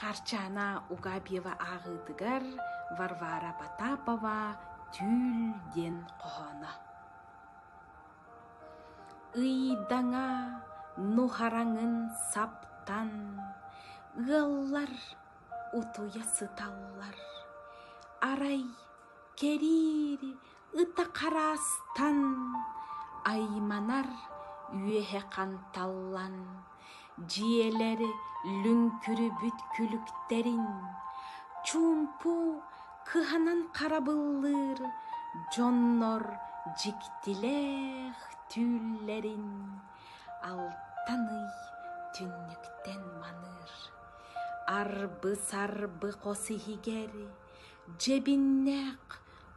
Харчаана Угабьева ааҕыытыгар Варвара Потапова «Түүл» диэн хоһооно «Ыйдаҥа нуһараҥын саптан, Ыаллар утуйа сыталлар, Арай кэриир Ыта хараастан айманар үөһэ ханталлан дьиэлэри лүҥкүрүбүт күлүктэрин чуумпу кыһанан харабыллыыр дьоннор дьиктилээх түүллэрин алтан ый түннүктэн маныыр арбы-сарбы хос иһигэр дьэбиннээх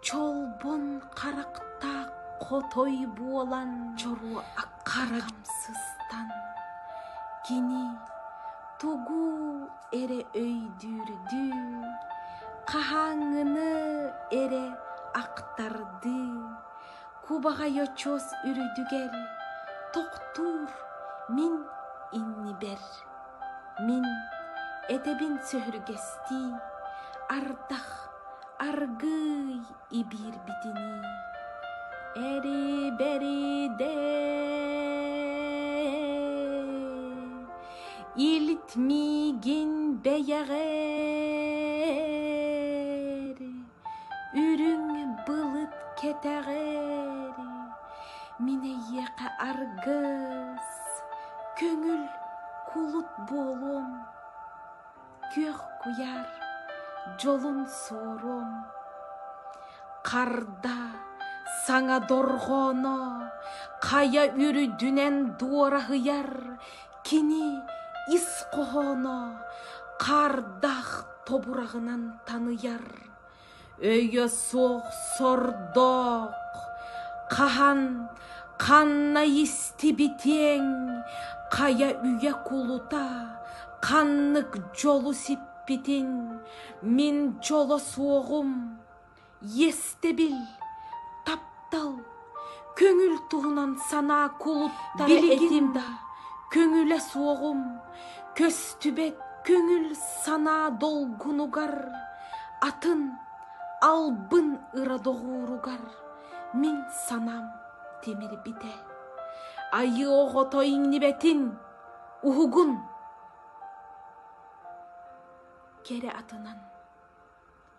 Чолбон харахтаах хотой буолан чору-аккара хамсыстан кини тугу эрэ өйдүүрдүү, хаһааҥҥыны эрэ ахтардыы, кубаҕай очос үрдүгэр тохтуур мин иннибэр Мин этэбин сөһүргэстии, ардах аргыый ибиирбитинии, эри-бэри-дэй, илт миигин бэйэҕэр Үрүҥ былыт кэтэҕэр мин эйиэхэ аргыс, көҥүл кулут буолуом, күөх куйаар дьолун суоруом. Харда саҥа дорҕооно хайа үрдүнэн дуораһыйар Кини ис хоһооно хардах тобураҕынан таныйар, өйө суох сордоох, хаһан ханна истибитиэҥ, хайа үйэ кулута ханнык дьолу сиппитин мин дьоло суоҕум. Иэстэбил, таптал, көҥүл туһунан санаа кулуттара билигин да көҥүлэ суоҕум, көстүбэт көҥүл санаа долгунугар, атын албын ыра доҕууругар мин санаам тимирбитэ. Айыы оҕото иҥнибэтин уһугун кэрэ атынан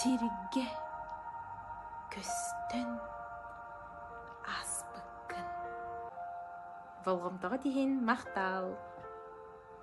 сиргэ көстөн ааспыккын болҕомтоҕо тиһин махтаал